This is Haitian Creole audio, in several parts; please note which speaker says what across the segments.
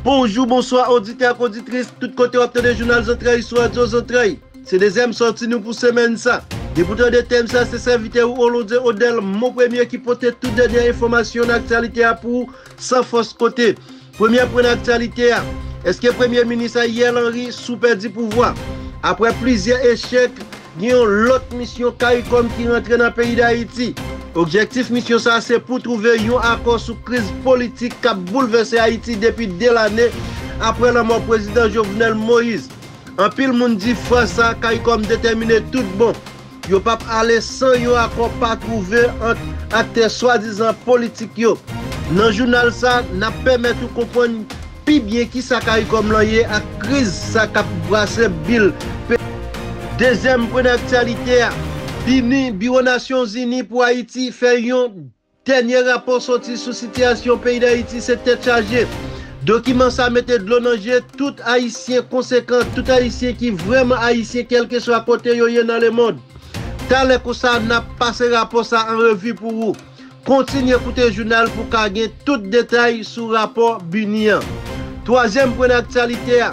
Speaker 1: Bonjou, bonswa oditè ak oditris tout kote wap tande jounal zantray sou radyo zantray. Se dezyèm sòti nou pou semèn sa. Depi w tande tèm sa se sèvitè ou Olonde Odèl Monpremye ki pote tout dènyè enfòmasyon nan aktyalite a pou ou san fòs kote. Premye pwen aktyalite a, Eske Premye Minis Ayriel Henry sou pèdi pouvwa? Aprè plizyè echèk, gen yon lòt misyon caricom ki rantre nan peyi Dayiti. Objektif misyon sa se pou twouve yon akò sou kriz politik k ap boulvèse Ayiti depi 2 lane aprè lanmò Prezidan Jovenel Moïse. Anpil moun di fwa sa caricom detèmine tout bon. Yo p ap ale san yon akò pa twouve ant aktè swadizan politik yo. Nan jounal sa, n ap pèmèt ou konprann pi byen kisa caricom lan ye ak kriz sa k ap brase bil peyi a. Dezyèm pwen aktyalite a, BINUH, Biwo Nasyonzini pou Ayiti, fè yon Dènye rapò sòti sou sitiyasyon peyi Dayiti se tèt chaje. Dokiman sa mete dlo nan je tout Ayisyen konsekan, tout Ayisyen ki vrèman Ayisyen kèlkeswa kote yo ye nan lemond. Talè konsa n ap pase rapò sa an revi pou ou. Kontinye koute jounal pou w ka gen tout detay sou rapò BINUH an. Twazyèm pwen nan aktyalite a.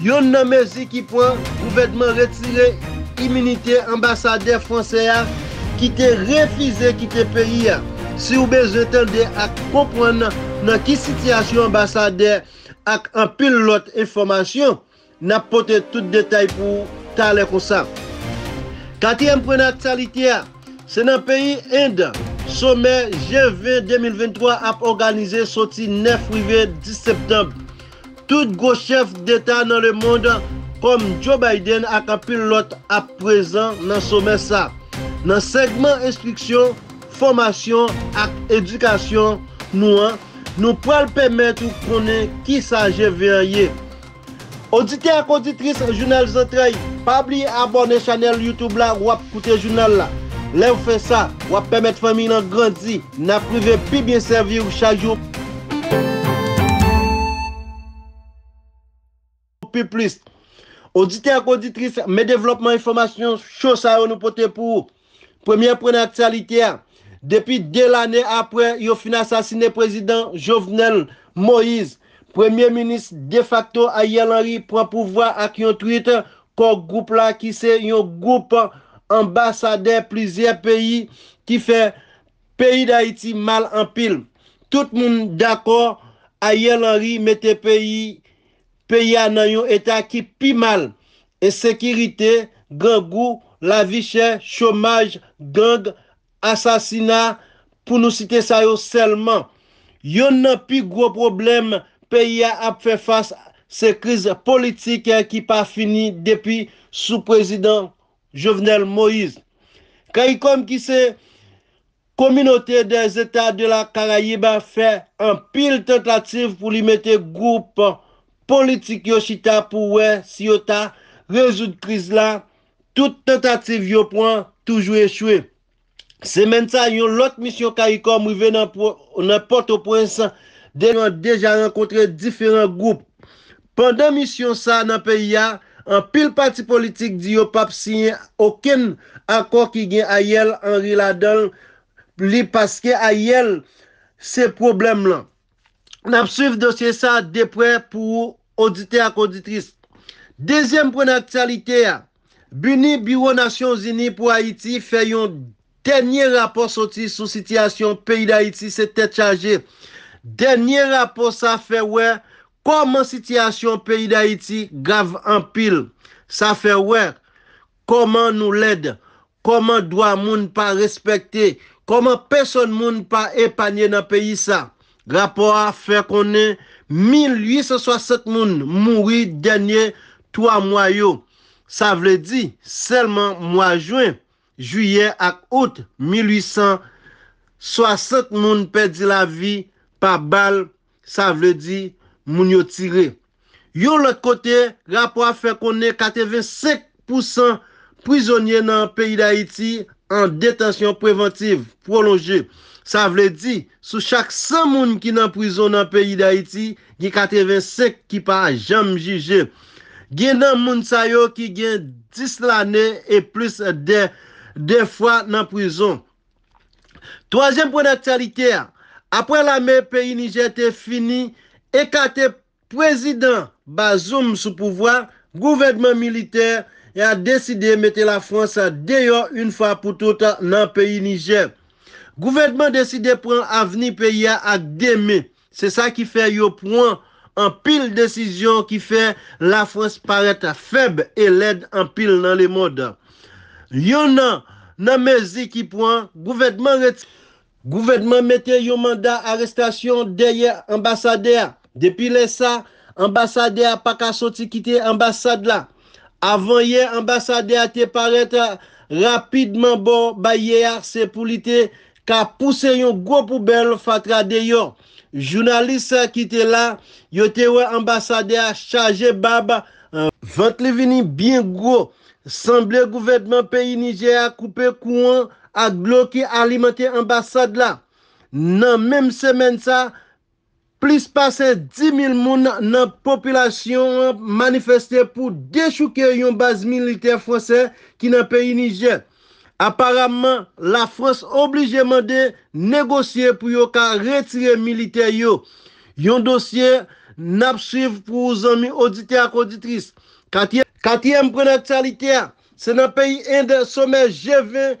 Speaker 1: Youn nan mezi ki pran, gouvènman retire iminite anbasadè fransè a ki te refize kite peyi a. Si w bezwen tande ak konprann nan ki sitiyasyon anbasadè ak anpil lòt enfòmasyon, n ap pote tout detay pou ou talè konsa. Katriyèm pwen nan aktyalite a, se nan peyi End, somè G20 2023 ap òganize soti 9 rive 10 septanb. Tout gwo chèf deta nan lemond, kòm Joe Biden ak anpil lòt ap prezan nan somè sa. Nan segman enstriksyon, fòmasyon ak edikasyon nou an, nou pral pèmèt ou konnen kisa GV an ye. Oditè ak oditris Jounal Zantray, pa bliye abòne chanèl YouTube la wap koute jounal la. Lèw fè sa, wap pèmèt fanmiy lan grandi, nap rive pi byen sèviw chak jou. Pi plis, oditè ak oditris, men devlòpman enfòmasyon cho sa yo nou pote pou ou. Premye pwen nan aktyalite a, depi 2 lane apre yo fin asasine prezidan Jovenel Moise, premye minis defakto Ariel Henry pran pouvwa ak yon twit Kò Gwoup la ki se yon gwoup anbasadè plizyè peyi ki fè Peyi dayiti mal anpil. Tout moun dakò Ariel Henry mete peyi peyi a nan yon eta ki pi mal. Ensekirite, grangou, lavi chè, chomaj, gang, asasina pou nou site sa yo sèlman. Yonn nan pi gwo pwoblèm peyi a ap fè fas se kriz politik ki pa fini depi sou prezidan Jovenel Moise. Caricom ki se Communauté des Etats de la Caraïbe fè anpil tantativ pou li mete gwoup politik yo chita pou wè si yo ta rezoud kriz la, tout tantativ yo pwan toujou echwe. Semèn sa, yon lòt misyon caricom rive nan Pòtoprens, depi lè deja rankontre diferan gwoup. Pandan misyon sa nan peyi a, anpil pati politik di yo pap siyen okenn akò ki gen Ariel Henry ladan li paske Ariel se pwoblèm lan. N ap swiv dosye sa a de prè pou ou oditè ak oditris. Dezyèm pwen nan aktyalite a, BINUH, Biwo Nasyon Zini pou Ayiti, fè yon dènye rapò soti sou sitiyasyon peyi Dayiti se tèt chaje. Dènye rapò sa fè wè kòman sitiyasyon peyi Dayiti grav anpil. Sa fè wè. Koman nou lèd, koman dwa moun pa respekte, koman pesonn moun pa epanye nan peyi sa. Rapò a fè konnen 1860 moun mouri dènye 3 mwa yo, sa vle di sèlman mwa jwen, jiyè ak out 1860 moun pèdi lavi pa bal Sa vle di, moun yo tire. Yon lòt kote, rapò a fè konnen 85 pou san prizonye nan peyi Dayiti an detansyon prevantiv, pwolonje. Sa vle di, sou chak 100 moun ki nan prizon nan peyi Dayiti, gen 85 ki pa janm jije. Gen nan moun sa yo ki gen 10 lane e plis de fwa nan prizon. Twazyèm pwen daktyalite a, aprè lame peyi Nijè te fini ekate Pwezidan Bazoum sou pouvwa, gouvènman militè a deside mete Lafwans deyò yn fwa pou tout nan peyi Nijè. Gouvènman deside pran avni peyi a ak 2 men, Se sa ki fè yo pwan anpil desizyon ki fè la Frans parèt fèb e lèd anpil nan le mond. Yon nan nan mezi ki pwan, gouvènman ret. Gouvènman mete yon manda arestasyon dèyè anbasadè a. Depi lè sa, anbasadè a pa ka soti kite anbasad la. Avan yè anbasadè a te parèt rapidman bò bay yè a se pou li te ka pouse yon gwo poubèl fatra deyò. Jounalis ki te la yo te wè anbasadè a chaje bab, vant li vini byen gwo, sanble gouvènman peyi Nijè a koupe kouran ak dlo ki alimante anbasad la. Nan menm semèn sa, Plis pase 10 mil moun nan popilasyon an manifeste pou dechouke yon baz militè fransè ki nan peyi Nijè. Aparamman, Lafrans oblije mande negosye pou yo ka retire militè yo. Yon dosye n ap swiv pou ou zanmi oditè ak oditris. Katyèm pwen nan aktyalite a, se nan peyi End somè G20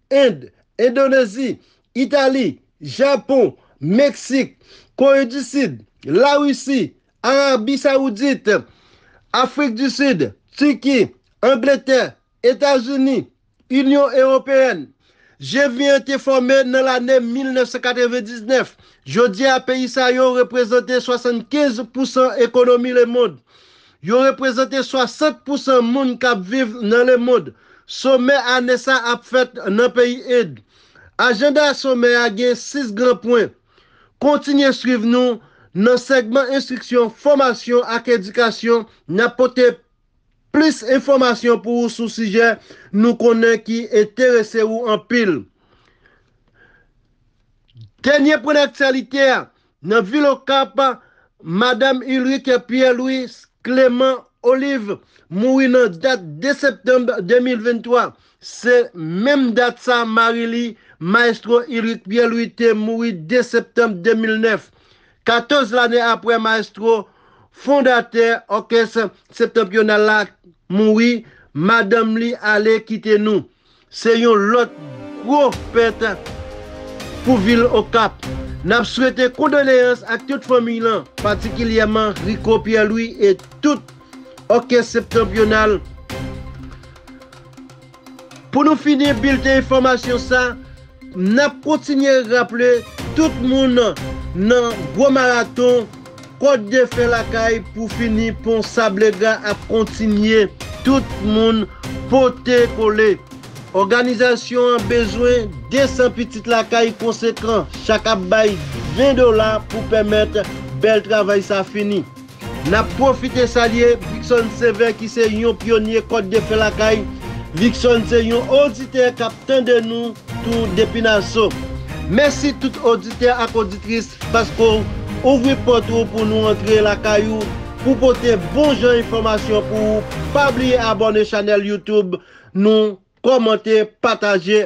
Speaker 1: End, Endonezi, Itali, Japon, Meksik, Kore di Sid, Larisi, Arabi Sawoudit, Afrik di Sid, Tiki, Angletè, Etazini, Inyon Ewopeyèn. G20 an te fòme nan lane 1999. Jodi a peyi sa yo reprezante 75 pousan ekonomi lemond. Yo reprezante 60 pousan moun k ap viv nan lemond. Somè ane sa ap fèt nan peyi End. Ajanda somè a gen 6 gran pwen. Kontinye swiv nou nan segman enstriksyon, fòmasyon ak edikasyon. N ap pote plis enfòmasyon pou ou sou sijè nou konnen ki enterese ou anpil. Dènye pwen aktyalite a, Nan vil Okap, Madam Ulrike Pierre Louis Clément Olive mouri nan dat 2 septanm 2023. Se menm dat sa mari li, Maestro Ulrique Pierre Louis te mouri 2 septanm 2009. 14 lane aprè Maestro, fondatè òkès Septentrional la, mouri, madanm li ale kite nou. Se yon lòt gwo pèt pou vil Okap. N ap swete kondoleyans ak tout fanmiy lan, patikilyèman Rico Pierre-Louis e tout Òkès Septanpyonal. Pou nou fini bilten enfòmasyon sa. Nap kontinye raple tout moun nan gwo maraton kòd de fè lakay pou fini pon sablegra ap kontinye tout moun pote kole. Òganizasyon an bezwen 200 pitit lakay konsekan chak ap bay 20 dola pou pèmèt bèl travay sa fini. N ap pwofite salye Vicson Sévère ki se yon pyonye Kòd de Fè Lakay. Vicson se yon oditè k ap tande nou tou depi Naso. Mèsi tout oditè ak oditris paske w ouvri pòt ou pou nou antre lakay ou pou pote bon jan enfòmasyon pou ou. Pa bliye abòne chanèl YouTube nou, kòmante, pataje.